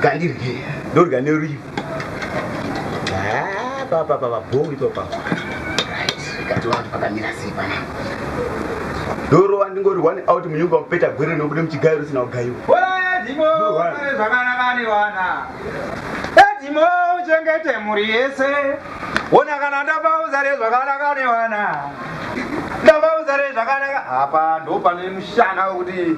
Gandirye, ndorya nerivi. Ah, papa papa bhongi papa. Right, kati wangu pakamira sei pana. Doro wandingori one out munyunga mupeta gwere nokude muchigairo sina ugayo. Wala dimo, wala zvakana kani wana. Edimo uchengete muri yese. Wona kana ndapa uzare zvakana kani wana. Ndapa uzare zvakana. Apa ndo pane mushana kuti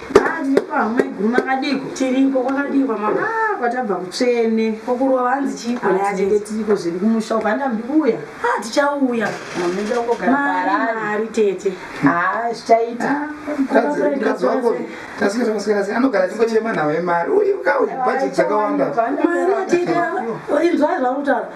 Ah, nyepa amai guru makadiiko? Tiriko kwakadii kwamama? Ah, kwatabva kutsvene. Kokurova hanzi chiiko ah, naye? Tinenge tiriko zvedu kumusha uko handa mudi kuuya. Ah, tichauya. Mamida kugara mari mari tete. Ah, zvichaita. Ah, anogara chingochema nhau yemari uyu kauyu bhaji dzakawanda mari tete inzwai zvauri kutaura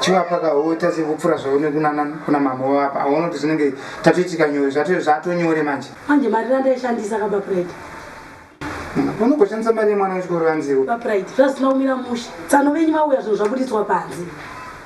chivapa kahota sekupfura zvaune kunana kuna mama wavapa aona kuti zvinenge tatoitika nyore zvatonyore manje manje mari randaishandisa kaba pride unogoshandisa mari yemwana wechikoro vanziwo bapride zvazina kumira mushe tsano venyu vauya zvinhu zvabuditswa panze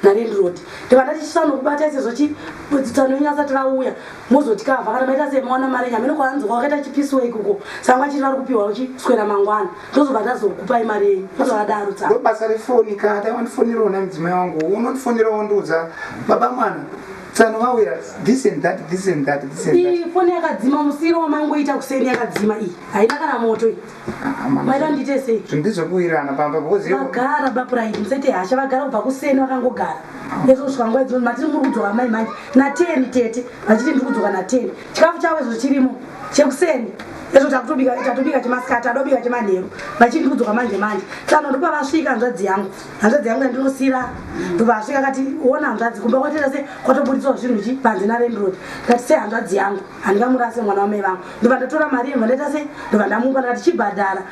narendiroti ndiva ndatichisa nokubata isezvo chitsano venyu asati vauya mozotikavha kana maita semawana mari enyu hameno kwaanzwa wakaita chipisiwa ikuko sanga chiri vari kupiwa uchiswera mangwana tozobva tazokupai mari yenyu tozovadaro tsa ndo basa refoni ka dai wandifonerawo na mudzimai wangu unondifonerawo ndiudza baba mwana tsano vauya this and that this and that this and that iyi foni yakadzima musiro wamaingoita kuseni yakadzima iyi haina kana moto iyi Ah, mama, maita ndiite sei zvinhu ndizvekuwirana pamba because iwe- vagara bapuraidi musete hasha vagara kubva kuseni vakangogara ezvo kusvika nguva dzino matiri muri kudzoka mai manje nateni tete vachiti ndiri kudzoka nateni chikafu chavo izvo chirimo chekuseni ezvo takutobika tatobika chemasikati tadobika chemanheru vachiti kudzoka manje manje tsano ndopa vasvika hanzvadzi yangu hanzvadzi yangu yandinosira ndopa vasvika kati ona hanzvadzi kumba kwatira se kwatoburitsawo zvinhu chi panze narendrod kati se hanzvadzi yangu handingamurase mwana wamai vangu ndobva ndatora mari yemva ndaita se ndobva ndamupa ndakati chibhadhara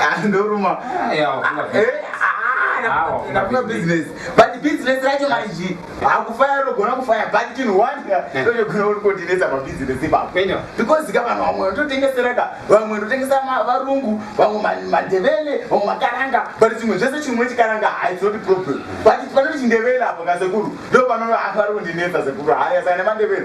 Ah, ndoruma ndafunga business but business racho manji hakufaya unogona kufaya but chinhu wanda ndogona uri kotinetsa pabusiness ipapo because ka vanhu vamwe ndotengesera ka vamwe ndotengesa varungu vamwe mandevele vamwe makaranga but chimwe zvese chimwe chikaranga it's not problem but panoti chindevele apo kasekuru ndo panoaari kundinetsa sekuru haya sane mandevele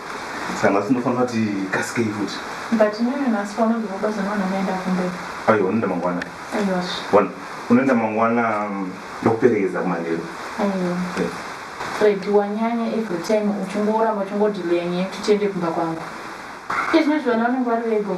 Sanga sinofanira kuti kasikei futi. But mimi nhasi panoguma basa nona maenda kumberi. Aiwa unoenda mangwana. Aiwa. Wana unoenda mangwana mm, ndokuperekedza kumanheru. Aiwa. Eh. Fred wanyanya every time uchingoramba uchingodelayer nyaya kuti tiende kumba kwangu. Izvezvi vana vanenge vari vego.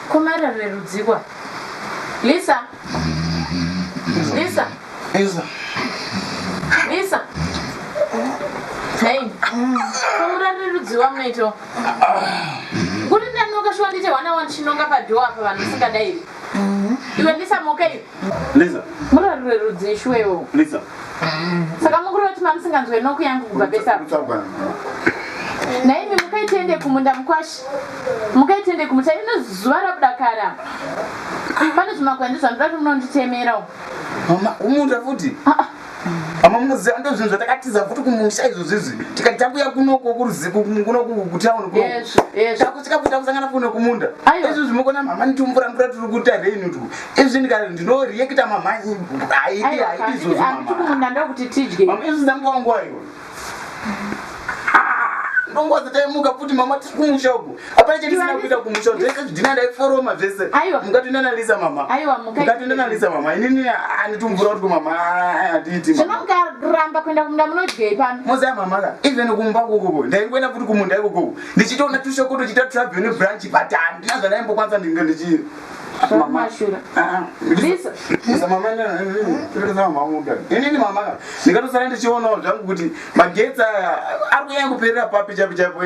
Ko Mara rerudzikwa. Lisa. Lisa. Lisa. Lisa. Hey. Kumura rerudziwa munoito. Kuri ndanoka shwa ndite wana wani chinonga padoor apa vanhu singadairi. Iwe Lisa mokei. Lisa. Murarure rudzii shuwewo. Lisa. Saka mukuru vati mamusinganzwe noku yangu kubva besa. Naimi mukaitende kumunda mukwashi. Mukaitende kumuta ino zuva rakudakara. Pane zvimagwandi zvandoda kuti munonditemera. Mama, kumunda futi. Ah, ah. Mama munoziva ndo zvinhu zvatakatiza futi kumusha izvo zvizvi tikati takuya kunoko kunokutown kunotakusvika futi takusangana kuno kumunda izvi zvimokona mama nitumvura mvura tiri kuita reni tu izvi ndika ndinoreacta mama haidi haidi izvozvomama izvi ndambowa nguva iyo ndongozi taimuka futi mama tiri kumusha uku hapana chandisina kuita kumusha zvese zvidhina ndaiforoma zvese mukatoenda nalisa mama mukatoenda nalisa mama inini anditumvura kuti kumama hatiiti zvinomkaramba kuenda kumunda munodyei pano moziva mama ka even kumba kukuku ndaingoenda futi kumunda ikukuku ndichitoona tushoko tochiita travel nebranch but handina zvandaimbokwanisa ndinge ndichii Asi mama- Mashura. Ah, ah, Lisa. Lisa, mama, eh, eh, eh, tiri zama mama muda. Inini mama ka, ndikatosara ndichionawo zvangu kuti magetsi aya ari kunyanya kuperera papi chapi chapo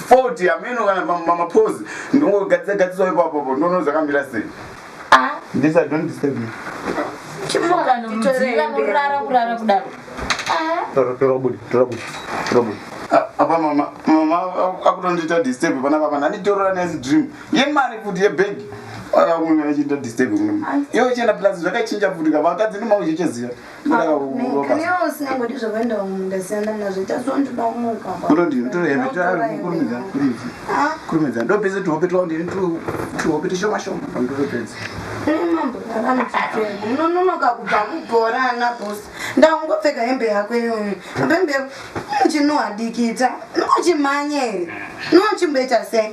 foti ameno kana ma- ma- mapozi ndongogadzisa gadzisawo ipapopo ndono zvakamira sei Ah, Lisa, don't disturb me. chimuka nomudziva kurara kurara kudaro. Ah, Tora- tora budi, tora budi, tora budi. Ah, apa mama mama akutondiita disturb panapa pana nditorora nezi dream yemari futi yebhegi akamuya achiita disturb munhu iwe uchienda plus zvakachinja futi ka vakadzi noma uchichaziva kurumidza ndopese tuhope twao ndini tuhope tushoma shoma pandotopedza unononoka kubva kubhora ana bos ndaungopfeka hembe yako iyoyo apembe chinohadikita nochimhanya here nochimboita sei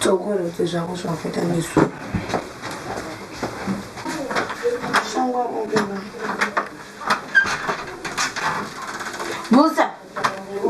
Tsokorodze zvako zvawakaita nesu. Shangwa ongema. Busa.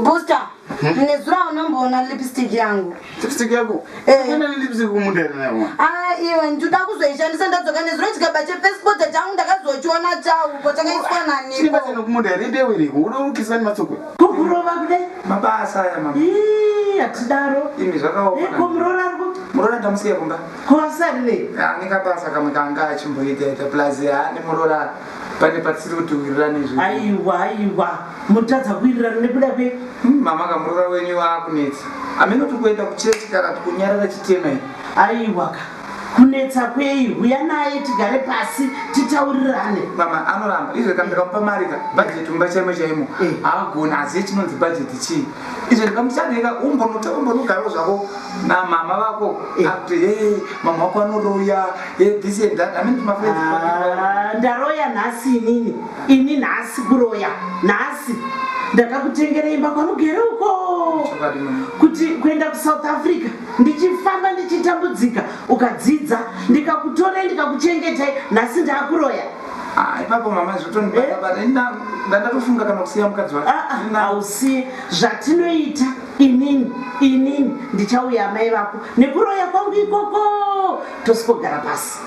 Busa. Hmm? Nezura unomboona lipstick yangu. Lipstick yako? Eh. Kana lipstick kumundani nayo. Ah, iwe ndoda kuzoishandisa ndadzoka nezura chikaba che passport changu ndakazochiona chauko chakaiswa nani. Chibasa nokumundani mbewe iri. Unoukisa ni matsoko. Kukurova kudai. Mabasa aya mama. Ii hatidaro. Imi zvakaoma. Iko murora ari kuti. Murora ndamusiya kumba. Kuvasarirei. Ane kabasa kamwe kanga achimboita ita plus ane murora pane patisiri kuti wirirane izvo. Aiwa aiwa. Mutadza kuwirirana nekuda kwe. Hmm, mama kamurora wenyu waakunetsa. Ameno tikuenda kuchechi kana tikunyarara chitema. Aiwa ka. Kunetsa kwei? Huya naye tigare pasi titaurirane. Mama anoramba izvo kana ndikamupa mari ka budget mumba chaimo chaimo Eh. haagoni hazive chinonzi budget chii izvo ndikamuchaneka umbonuta umbonugaro zvako namama vako Eh. akuti hey mama wako anoroya hey this and that amene timafriends Ah, ndaroya nhasi inini ini nhasi kuroya nhasi ndakakutengera imba kwanogere uko Chokwadi, mama. kuti kuenda kusouth africa ndichifamba ndichitambudzika ukadzidza ndikakutorai ndikakuchengetai nhasi ndakuroya Ah, ipapo mama zvotondibata but ini nda- ndandatofunga kana kusiya mukadzi wake Ini na- hausiye zvatinoita inini inini ndichauya amai vako nekuroya kwangu ikoko tosikogara pasi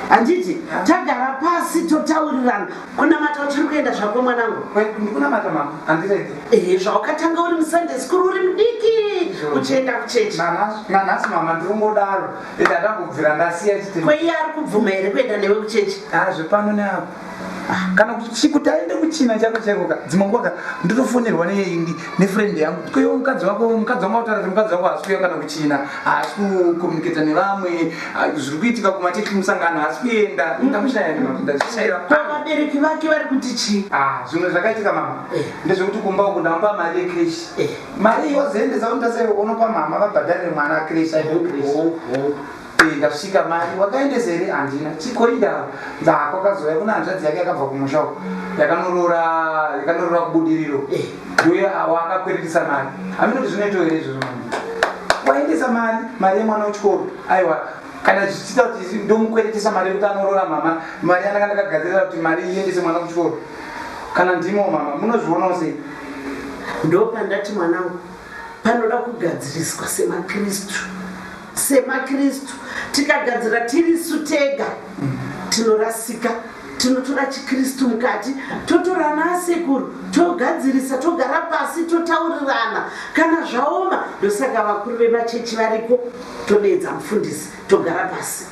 handiti tagara pasi totaurirana Kunamata uchiri kuenda zvako mwanangu. Kwedu ndikunamata mama, handirege. Eh, zvaukatanga uri muSunday school uri mudiki uchienda kuchechi. Nanhasi mama ndikungodaro ende atambobvira ndasiya chitema. Kweiye ari kubvuma here kuenda newe kuchechi? Ah, zvepano neapo. Ah, kana kuti kuti aende kuchina chako chaiko ka dzimwe nguva ka ndotofonerwa neyeyindi nefriend yangu kuti koiwe mukadzi wako mukadzi wangu autaura kuti mukadzi wako haasi kuya kana kuchina haasi kucommunicata nevamwe ah, zviri kuitika kumateki musangano haasi kuenda ndamushairavabereki vake vari kuti chii ah, zvimwe zvakaitika mama eh. ndezvekuti kumba uku ndamba mari yekreshi eh. mari yozoendesa kuti ndaseunopa mama vabhadharire mwana kreshi Eh, ndasvika mari wakaendesa here handina chikoi ndava dzako akazouya kuna hanzvadzi yake yakabva kumusha uko yakanorora yakanorora kubudiriro Eh. uye wakakweretesa mari hameno kuti zvinoitwa here izvozvo mama waendesa mari mari yemwana wechikoro aiwa kana zvichiita kuti ndomukweretesa mari yekuti anorora mama mari yanaka ndakagadzirira kuti mari iendese mwana kuchikoro kana ndimo mama munozvionawo sei ndopandati mwanangu panoda kugadziriswa semakristu SemaKristu, tikagadzira tirisu tega tinorasika. Tinotora chiKristu mukati, totora ana asekuru togadzirisa, togara pasi totaurirana kana zvaoma. Ndosaka vakuru vemachechi variko, todeedza mufundisi togara pasi.